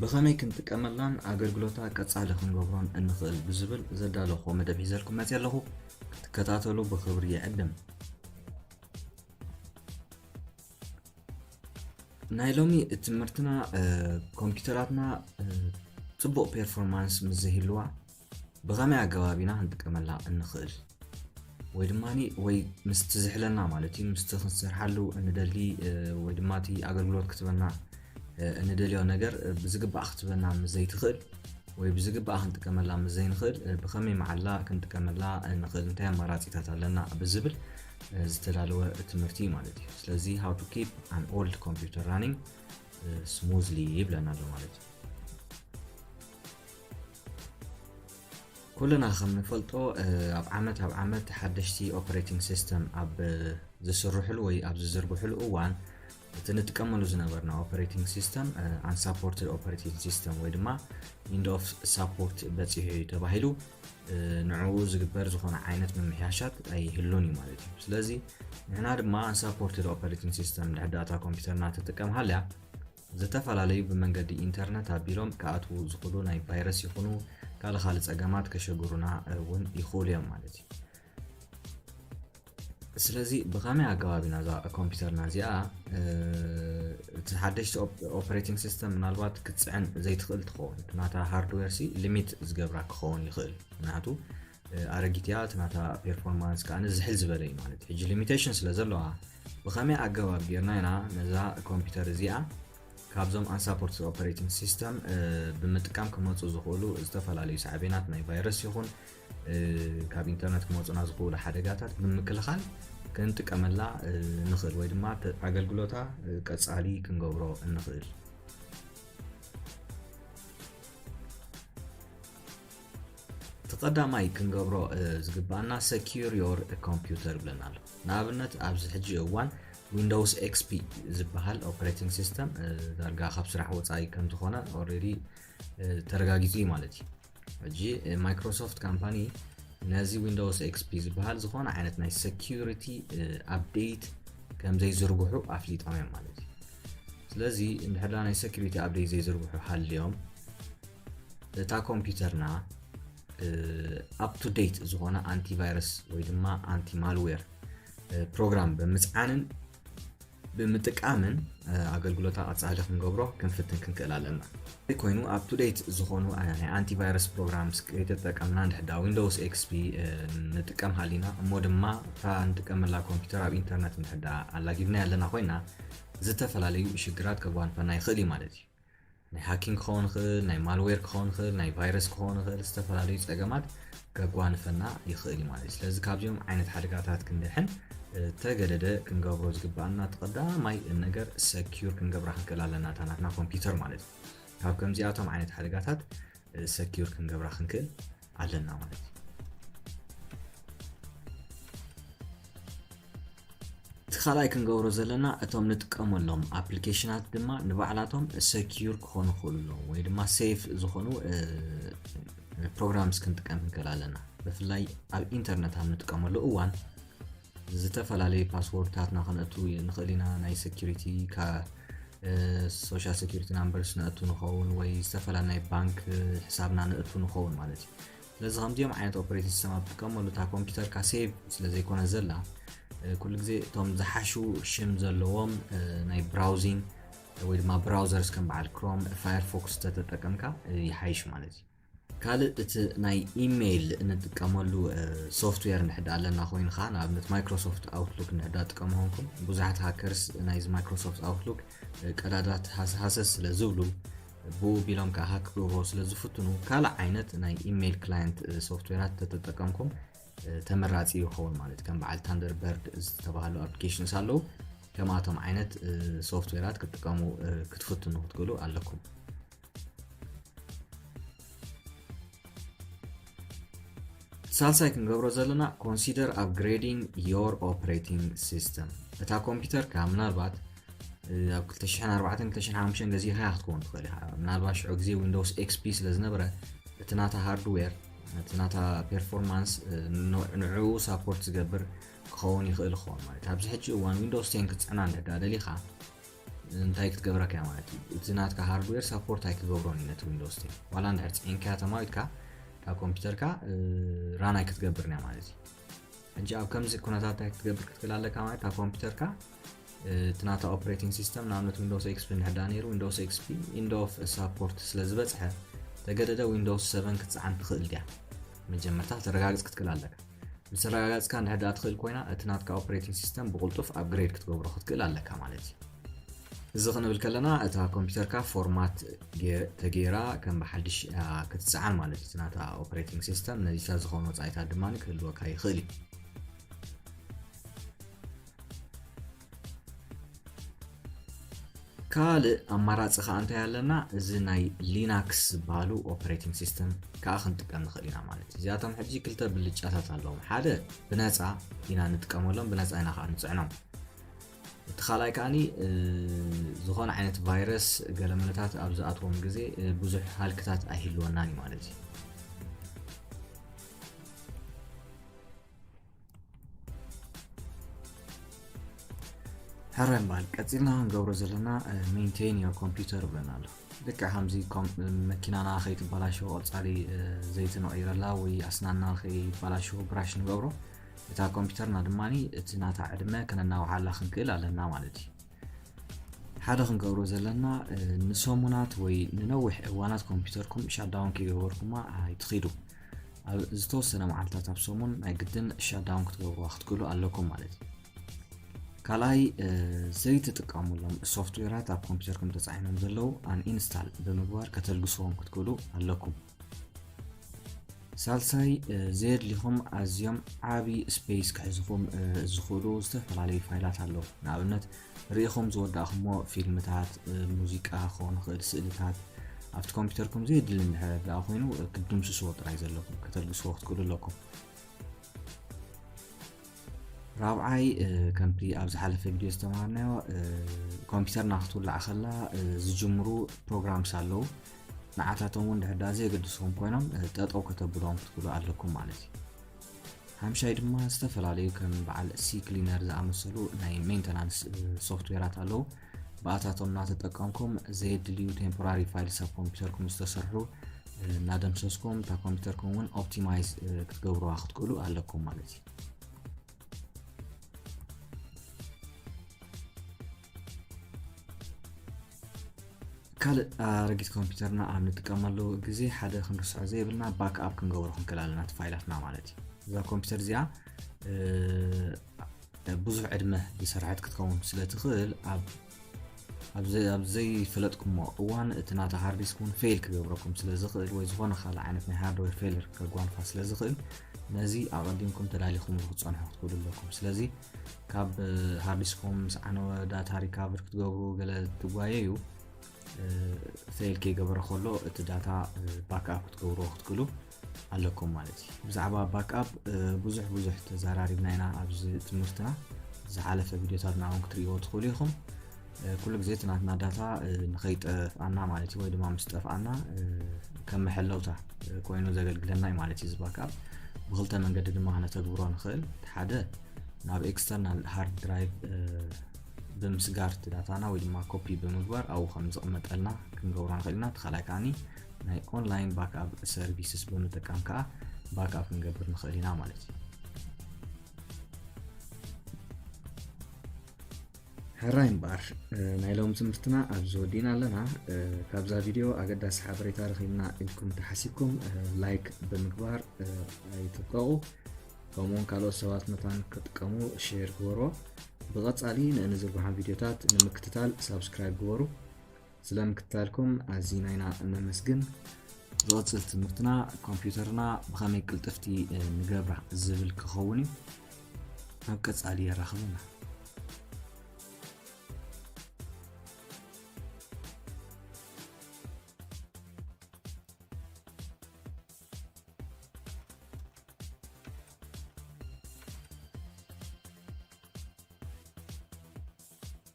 ብኸመይ ክንጥቀመላን ኣገልግሎታ ቀጻሊ ክንገብሮን እንኽእል ብዝብል ዘዳለኹዎ መደብ ሒዘልኩም መጺኣ ኣለኹ። ክትከታተሉ ብኽብሪ ይዕድም። ናይ ሎሚ ትምህርትና ኮምፒውተራትና ጽቡቕ ፔርፎርማንስ ምስ ዘይህልዋ ብኸመይ ኣገባብ ኢና ክንጥቀመላ እንኽእል? ወይ ድማ ወይ ምስቲ ዝሕለና ማለት እዩ ምስቲ ክንሰርሓሉ እንደሊ ወይ ድማ እቲ ኣገልግሎት ክትበና እንደልዮ ነገር ብዝግባእ ክትበና ምስ ዘይትኽእል ወይ ብዝግባእ ክንጥቀመላ ምስ ዘይንኽእል ብኸመይ መዓላ ክንጥቀመላ ንኽእል እንታይ ኣማራፂታት ኣለና ብዝብል ዝተዳለወ ትምህርቲ እዩ ማለት እዩ ስለዚ ሃው ቱ ኪፕ ኣን ኦልድ ኮምፒውተር ራኒንግ ስሙዝሊ ይብለና ኣሎ ማለት እዩ ኩልና ከም ንፈልጦ ኣብ ዓመት ኣብ ዓመት ሓደሽቲ ኦፕሬቲንግ ሲስተም ኣብ ዝስርሕሉ ወይ ኣብ ዝዝርግሕሉ እዋን እቲ ንጥቀመሉ ዝነበርና ኦፐሬቲንግ ሲስተም ኣንሳፖርትድ ኦፐሬቲንግ ሲስተም ወይ ድማ ኢንድ ኦፍ ሳፖርት በፂሑ እዩ ተባሂሉ ንዕኡ ዝግበር ዝኾነ ዓይነት ምምሕያሻት ኣይህሉን እዩ ማለት እዩ ስለዚ ንሕና ድማ ኣንሳፖርትድ ኦፐሬቲንግ ሲስተም ንሕዳታ ኮምፒውተርና ትጥቀም ሃልያ ዝተፈላለዩ ብመንገዲ ኢንተርነት ኣቢሎም ክኣትዉ ዝኽሉ ናይ ቫይረስ ይኹኑ ካልእ ካልእ ጸገማት ከሸግሩና እውን ይኽእሉ እዮም ማለት እዩ። ስለዚ ብኸመይ ኣገባብ ኢና እዛ ኮምፒውተርና እዚኣ እቲ ሓደሽቲ ኦፕሬቲንግ ሲስተም ምናልባት ክትፅዕን ዘይትኽእል ትኸውን ናታ ሃርድዌር ሲ ሊሚት ዝገብራ ክኸውን ይኽእል ምክንያቱ ኣረጊት እያ እቲ ናታ ፔርፎርማንስ ከኣ ዝሕል ዝበለ እዩ ማለት ሕጂ ሊሚቴሽን ስለ ዘለዋ ብኸመይ ኣገባብ ጌርና ኢና ነዛ ኮምፒውተር እዚኣ ካብዞም ኣንሳፖርት ኦፐሬቲንግ ሲስተም ብምጥቃም ክመፁ ዝኽእሉ ዝተፈላለዩ ሳዕቤናት ናይ ቫይረስ ይኹን ካብ ኢንተርነት ክመፁና ዝኽእሉ ሓደጋታት ብምክልኻል ክንጥቀመላ ንኽእል ወይ ድማ ኣገልግሎታ ቀፃሊ ክንገብሮ እንኽእል እቲ ቀዳማይ ክንገብሮ ዝግባኣና ሰኪር ዮር ኮምፒውተር ብለና ኣሎ ንኣብነት ኣብዚ ሕጂ እዋን ዊንዶውስ ኤክስፒ ዝበሃል ኦፕሬቲንግ ሲስተም ዳርጋ ካብ ስራሕ ወፃኢ ከም ዝኾነ ኦልሬዲ ተረጋጊፁ እዩ ማለት እዩ ሕጂ ማይክሮሶፍት ካምፓኒ ነዚ ዊንዶውስ ኤክስፒ ዝበሃል ዝኾነ ዓይነት ናይ ሰኪሪቲ ኣፕዴት ከም ዘይዝርግሑ ኣፍሊጦም እዮም ማለት እዩ ስለዚ እንድሕዳ ናይ ሰኪሪቲ ኣፕዴት ዘይዝርግሑ ሃልዮም እታ ኮምፒውተርና ኣፕ ቱ ዴት ዝኾነ ኣንቲቫይረስ ወይ ድማ ኣንቲ ማልዌር ፕሮግራም ብምፅዓንን ብምጥቃምን ኣገልግሎታ ቀፃሊ ክንገብሮ ክንፍትን ክንክእል ኣለና ኮይኑ ኣብ ቱ ዴት ዝኾኑ ናይ ኣንቲቫይረስ ፕሮግራምስ ከይተጠቀምና ንድሕዳ ዊንዶውስ ኤክስፒ ንጥቀም ሃሊና እሞ ድማ እታ ንጥቀመላ ኮምፒውተር ኣብ ኢንተርነት ንድሕዳ ኣላጊብና ኣለና ኮይና ዝተፈላለዩ ሽግራት ከጓንፈና ይኽእል እዩ ማለት እዩ ናይ ሃኪንግ ክኸውን ይኽእል፣ ናይ ማልዌር ክኸውን ይኽእል፣ ናይ ቫይረስ ክኸውን ይኽእል፣ ዝተፈላለዩ ጸገማት ከጓንፈና ይኽእል እዩ ማለት እዩ። ስለዚ ካብዚኦም ዓይነት ሓደጋታት ክንድሕን ተገደደ ክንገብሮ ዝግባኣና እቲ ቀዳማይ ነገር ሰኪዩር ክንገብራ ክንክእል ኣለና እታ ናትና ኮምፒውተር ማለት እዩ። ካብ ከምዚኣቶም ዓይነት ሓደጋታት ሰኪዩር ክንገብራ ክንክእል ኣለና ማለት እዩ እቲ ካልኣይ ክንገብሮ ዘለና እቶም ንጥቀመሎም ኣፕሊኬሽናት ድማ ንባዕላቶም ሰኪዩር ክኾኑ ክኽእሉ ኣለዎም ወይ ድማ ሴፍ ዝኾኑ ፕሮግራምስ ክንጥቀም ንክእል ኣለና ብፍላይ ኣብ ኢንተርነት ኣብ ንጥቀመሉ እዋን ዝተፈላለየ ፓስዎርድታትና ከነእቱ ንኽእል ኢና ናይ ሰኪሪቲ ሶሻል ሰኪሪቲ ናምበርስ ነእቱ ንኸውን ወይ ዝተፈላ ናይ ባንክ ሕሳብና ነእቱ ንኸውን ማለት እዩ ስለዚ ከምዚኦም ዓይነት ኦፕሬቲን ሲስተም ኣብ ትጥቀመሉ እታ ኮምፒውተርካ ሴቭ ስለ ዘይኮነ ዘላ ኩሉ ግዜ እቶም ዝሓሹ ሽም ዘለዎም ናይ ብራውዚን ወይ ድማ ብራውዘርስ ከም በዓል ክሮም ፋየርፎክስ ተተጠቀምካ ይሓይሽ ማለት እዩ ካልእ እቲ ናይ ኢመይል እንጥቀመሉ ሶፍትዌር ንሕዳ ኣለና ኮይኑ ከዓ ንኣብነት ማይክሮሶፍት ኣውትሉክ ንሕዳ ጥቀሙ ኮንኩም ብዙሓት ሃከርስ ናይዚ ማይክሮሶፍት ኣውትሉክ ቀዳዳት ሃሰስ ስለ ዝብሉ ብኡ ቢሎም ከዓ ሃክ ክገብርዎ ስለ ዝፍትኑ ካልእ ዓይነት ናይ ኢመይል ክላየንት ሶፍትዌራት ተተጠቀምኩም ተመራፂ ይኸውን ማለት ከም በዓል ታንደርበርድ ዝተባሃሉ ኣፕሊኬሽንስ ኣለዉ ከምኣቶም ዓይነት ሶፍትዌራት ክትጥቀሙ ክትፍትኑ ክትክእሉ ኣለኩም ሳልሳይ ክንገብሮ ዘለና ኮንሲደር ኣፕግሬዲንግ ዮር ኦፕሬቲንግ ሲስተም እታ ኮምፒውተርካ ምናልባት ኣብ 24205 ገዚእካ ክትከውን ትኽእል ኢኻ ምናልባት ሽዑ ግዜ ዊንዶውስ ኤክስፒ ስለ ዝነበረ እቲ ናታ ሃርድዌር እቲ ናታ ፐርፎርማንስ ንዕኡ ሳፖርት ዝገብር ክኸውን ይኽእል ክኸውን ማለት ኣብዚ ሕጂ እዋን ዊንዶውስ 10 ክትፅዕና እንዳ ደሊኻ እንታይ ክትገብረካ እያ ማለት እዩ እቲ ናትካ ሃርድዌር ሳፖርት ኣይክገብሮን እዩ ነቲ ዊንዶስ ቴን ዋላ እንድሕር ፅዒንካያ ተማዊትካ ካብ ኮምፒውተርካ ራን ኣይክትገብርን እያ ማለት እዩ ሕጂ ኣብ ከምዚ ኩነታት እንታይ ክትገብር ክትክእል ኣለካ ማለት ኣብ ኮምፒውተርካ እቲ ናታ ኦፕሬቲንግ ሲስተም ንኣብነት ዊንዶስ ኤክስፒ ንሕዳ ነይሩ ዊንዶስ ኤክስፒ ኢንድ ኦፍ ሳፖርት ስለ ዝበፅሐ ተገደደ ዊንዶስ 7 ክትፀዓን ትኽእል ድያ መጀመርታ ተረጋግፅ ክትክእል ኣለካ ምስ ኣረጋጋጽካ እንድሕድኣ ትኽእል ኮይና እቲ ናትካ ኦፕሬቲንግ ሲስተም ብቕልጡፍ ኣፕግሬድ ክትገብሮ ክትክእል ኣለካ ማለት እዩ። እዚ ክንብል ከለና እታ ኮምፒተርካ ፎርማት ተገይራ ከም ብሓድሽ ክትጽዓን ማለት እዩ። እቲ ናታ ኦፕሬቲንግ ሲስተም ነዚታት ዝኾኑ ወጻኢታት ድማ ክህልወካ ይኽእል እዩ። ካልእ ኣማራፂ ከዓ እንታይ ኣለና እዚ ናይ ሊናክስ ዝበሃሉ ኦፕሬቲንግ ሲስተም ከዓ ክንጥቀም ንኽእል ኢና ማለት እዩ እዚኣቶም ሕጂ ክልተ ብልጫታት ኣለዎም ሓደ ብነፃ ኢና ንጥቀመሎም ብነፃ ኢና ከዓ ንፅዕኖም እቲ ካልኣይ ከዓኒ ዝኾነ ዓይነት ቫይረስ ገለመለታት ኣብ ዝኣትዎም ግዜ ብዙሕ ሃልክታት ኣይህልወናን እዩ ማለት እዩ ሕራይ ምባል ቀፂልና ክንገብሮ ዘለና ሜንቴን ዮ ኮምፒውተር ብለና ኣሎ ልክ ከምዚ መኪናና ከይትበላሸው ቀፃሊ ዘይቲ ንቕይረላ ወይ ኣስናና ከይበላሸው ብራሽ ንገብሮ እታ ኮምፒውተርና ድማ እቲ ናታ ዕድመ ከነናውሓላ ክንክእል ኣለና ማለት እዩ ሓደ ክንገብሮ ዘለና ንሰሙናት ወይ ንነዊሕ እዋናት ኮምፒውተርኩም ሻዳውን ከይገበርኩማ ኣይትኽዱ ኣብ ዝተወሰነ መዓልታት ኣብ ሰሙን ናይ ግድን ሻዳውን ክትገብርዋ ክትክእሉ ኣለኩም ማለት እዩ ካልኣይ ዘይትጥቀሙሎም ሶፍትዌራት ኣብ ኮምፒውተርኩም ተፃዒኖም ዘለዉ ኣንኢንስታል ብምግባር ከተልግስዎም ክትክእሉ ኣለኩም ሳልሳይ ዘየድሊኹም ኣዝዮም ዓብዪ ስፔስ ክሕዝኹም ዝኽእሉ ዝተፈላለዩ ፋይላት ኣለዉ ንኣብነት ርኢኹም ዝወዳእኩሞ ፊልምታት፣ ሙዚቃ ክኸውን ይኽእል፣ ስእልታት፣ ኣብቲ ኮምፒተርኩም ዘየድሊ እንድሕር ደኣ ኮይኑ ክትድምስስዎ ጥራይ ዘለኩም ከተልግስዎ ክትክእሉ ኣለኩም። ራብዓይ ከምቲ ኣብ ዝሓለፈ ቪድዮ ዝተማሃርናዮ ኮምፒተርና ክትውላዕ ከላ ዝጅምሩ ፕሮግራምስ ኣለዉ ንዓታቶም እውን ድሕር ደኣ ዘየገድስኹም ኮይኖም ጠጠው ከተብሎም ክትክእሉ ኣለኩም ማለት እዩ። ሓምሻይ ድማ ዝተፈላለዩ ከም በዓል ሲ ክሊነር ዝኣመሰሉ ናይ ሜንተናንስ ሶፍትዌራት ኣለዉ ብኣታቶም እናተጠቀምኩም ዘየድልዩ ቴምፖራሪ ፋይልስ ኣብ ኮምፒውተርኩም ዝተሰርሑ እናደምሰስኩም እታ ኮምፒውተርኩም እውን ኦፕቲማይዝ ክትገብሩዋ ክትክእሉ ኣለኩም ማለት እዩ ካልእ ኣረጊት ኮምፒውተርና ኣብ ንጥቀመሉ ግዜ ሓደ ክንርስዖ ዘይብልና ባክ ኣፕ ክንገብሮ ክንክእል ኣለና እቲ ፋይላትና ማለት እዩ እዛ ኮምፒውተር እዚኣ ብዙሕ ዕድመ ዝሰርሐት ክትከውን ስለ ትኽእል ኣብ ዘይፈለጥኩሞ እዋን እቲ ናታ ሃርዲስክ እውን ፌል ክገብረኩም ስለ ዝኽእል ወይ ዝኾነ ካልእ ዓይነት ናይ ሃርድዌር ፌልር ከጓንፋ ስለ ዝኽእል ነዚ ኣቐዲምኩም ተዳሊኹም ክትፀንሑ ክትክእሉ ኣለኩም ስለዚ ካብ ሃርዲስኮም ምስ ዓነወ ዳታ ሪካቨር ክትገብሩ ገለ ትጓየዩ ፌል ከይገበረ ከሎ እቲ ዳታ ባክኣፕ ክትገብርዎ ክትክእሉ ኣለኩም ማለት እዩ ብዛዕባ ባክኣፕ ብዙሕ ብዙሕ ተዘራሪብና ኢና ኣብዚ ትምህርትና ዝሓለፈ ቪድዮታት ንኣውን ክትርእይዎ ትኽእሉ ኢኹም ኩሉ ግዜ እቲ ናትና ዳታ ንኸይጠፍኣና ማለት እዩ ወይ ድማ ምስ ጠፍኣና ከም መሐለውታ ኮይኑ ዘገልግለና እዩ ማለት እዩ እዚ ባክኣፕ ብክልተ መንገዲ ድማ ክነተግብሮ ንኽእል እቲ ሓደ ናብ ኤክስተርናል ሃርድ ድራይቭ ብምስጋር እቲ ዳታና ወይ ድማ ኮፒ ብምግባር ኣብኡ ከም ዝቕመጠልና ክንገብሮ ንኽእል ኢና እቲ ካልኣይ ከዓኒ ናይ ኦንላይን ባክኣፕ ሰርቪስስ ብምጥቃም ከዓ ባክኣፕ ክንገብር ንኽእል ኢና ማለት እዩ ሕራይ እምበኣር ናይ ሎም ትምህርትና ኣብዚ ወዲእና ኣለና ካብዛ ቪድዮ ኣገዳሲ ሓበሬታ ረኺብና ኢልኩም ተሓሲብኩም ላይክ ብምግባር ኣይትብቀቑ ከምኡውን ካልኦት ሰባት መታን ክጥቀሙ ሼር ግበርዎ ብቐፃሊ ንእንዝርግሖም ቪድዮታት ንምክትታል ሳብስክራይብ ግበሩ ስለ ምክትታልኩም ኣዚና ኢና እነመስግን። ዝቕጽል ትምህርትና ኮምፒዩተርና ብኸመይ ቅልጥፍቲ ንገብራ ዝብል ክኸውን እዩ። ኣብ ቀጻሊ የራኽቡና።